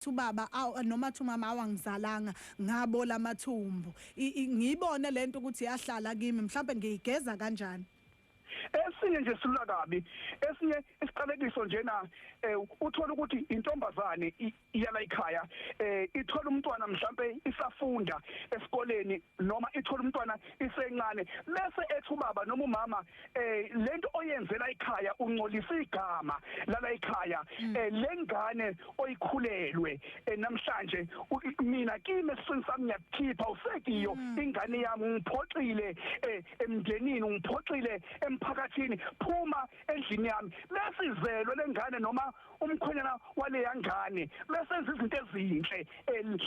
to baba aw noma to mama awangizalanga ngabola amathumbu ngiyibone lento ukuthi yahlala kimi mhlawumbe ngiyigeza kanjani esinye nje silula kabi esinye isiqalekiso njena eh, uthola ukuthi intombazane iyala ikhaya eh, ithola umntwana mhlambe isafunda esikoleni noma ithola umntwana isencane bese ethi ubaba noma umama eh lento oyenzela ikhaya uncolisa igama lala ikhaya mm. eh lengane oyikhulelwe eh, namhlanje mina kimi esifini sami ngiyakukhipha usekiyo mm. ingane yami ngiphoxile eh, emndenini ngiphoxile emphakathini phuma endlini yami bese izelwe lengane noma umkhonyana waleya ngane besenza izinto ezinhle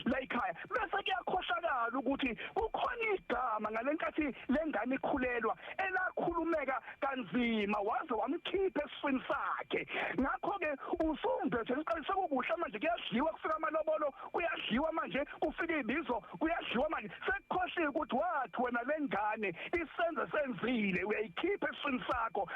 la ekhaya bese kuyakhohlakala ukuthi kukhona igama ngalenkathi lengane ikhulelwa elakhulumeka kanzima waze wamkhipha esifini sakhe ngakho ke usumbethe liqalise kukuhle manje kuyadliwa kufika amalobolo kuyadliwa manje kufika ibizo kuyadliwa manje sekukhohliwe ukuthi wathi wena lengane isenze senzile uyayikhipha esifini sakho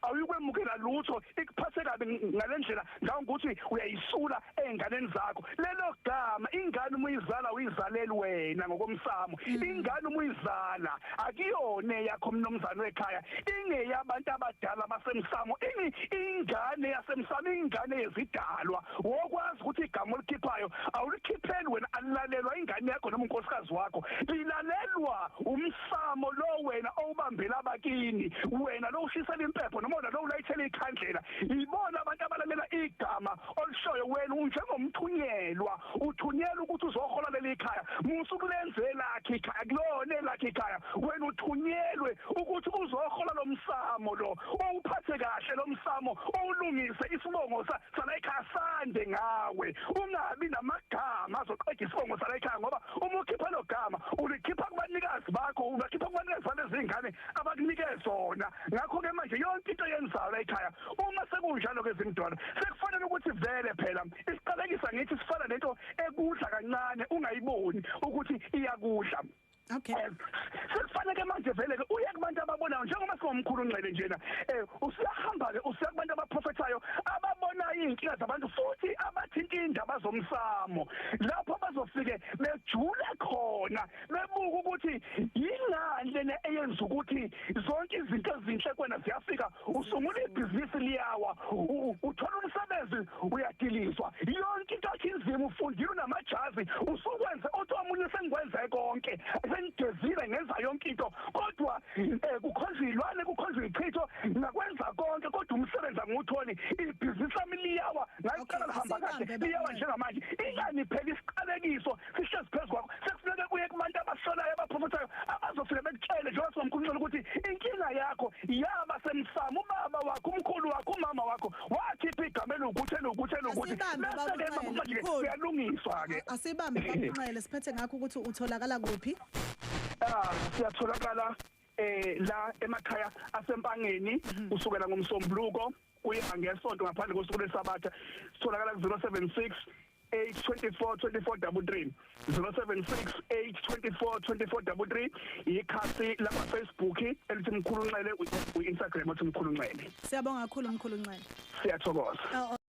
awuyikwemukela lutho ikuphathe kabi ngalendlela ngawo ukuthi uyayisula ezinganeni zakho lelo gama ingane uma uyizala uyizaleli wena ngokomsamo mm. ingane uma uyizala akuyona yakho mnomzane wekhaya ingeyabantu abadala basemsamo ini ingane yasemsamo ingane yezidalwa wokwazi ukuthi igama olikhiphayo awulikhipheli wena alilalelwa ingane yakho noma unkosikazi wakho lilalelwa umsamo Samo lo wena owubambela abakini wena lo ushisela impepho noma wena lo ulayithela ikhandlela ibona abantu abalalela igama olishoyo wena unjengomthunyelwa uthunyelwa ukuthi uzohola leli khaya musu kulenze lakhe ikhaya kulona lakhe ikhaya wena uthunyelwe ukuthi uzohola lomsamo lo owuphathe kahle lomsamo owulungise isibongo sala ekhaya sande ngawe ungabi namagama azoqeda isibongo sala ekhaya ngoba uma ukhipha logama ulikhipha kubanikazi bakho ubakhipha kubanikazi balezingane abakunike zona ngakho ke manje yonke into yenzayo la ekhaya uma sekunjalo ke zimdwana sekufanele ukuthi vele phela isiqalekisa ngithi sifana nento ekudla kancane ungayiboni ukuthi iyakudla Okay. Eh, sekufanele manje vele ke uye kubantu ababonayo njengoba singomkhulu unxele njena eh usiyahamba ke usiya kubantu abaprofethayo ababonayo izinkinga zabantu futhi abathinta indaba zomsamo lapho bazofike bejule khona bebuka ukuthi yingani lena eyenza ukuthi zonke izinto ezinhle kwena ziyafika usungula ibhizinisi liyawa uthola umsebenzi uyadilizwa yonke into yakhe inzima ufundile unamajazi usukwenze othi omunye sengikwenze konke sengigezile ngenza yonke into kodwa um eh, kukhonjwa iy'lwane kukhonjwa iy'chitho ngakwenza konke kodwa umsebenzi angiwutholi ibhizinisi lami liyawa ngaliqala lihamba kahle liyawa njengamanje ingani phela isiqalekiso sihlezi phezu kwakho sekufuneke kuye kubantu abasolayo abaphofothayo abazofike bekutshele njengoba singamkhulumela ukuthi inkinga yakho yaba semsamo ubaba wakho umkhulu wakho umama wakho wakhipha igama elukuthi elukuthi elukuthi bese-ke babumanje uyalungiswa-ke asibambe bakunxele siphethe ngakho ukuthi utholakala kuphi ah siyatholakala eh la emakhaya asempangeni mhm. usukela ngomsombuluko kuya ngesonto ngaphandle kosuku lesabatha sitholakala ku 076 8242433 0768242433 ikhasi lama Facebook elithi mkhulu nxele uInstagram othi mkhulu nxele Siyabonga kakhulu mkhulu nxele Siyathokoza oh, oh.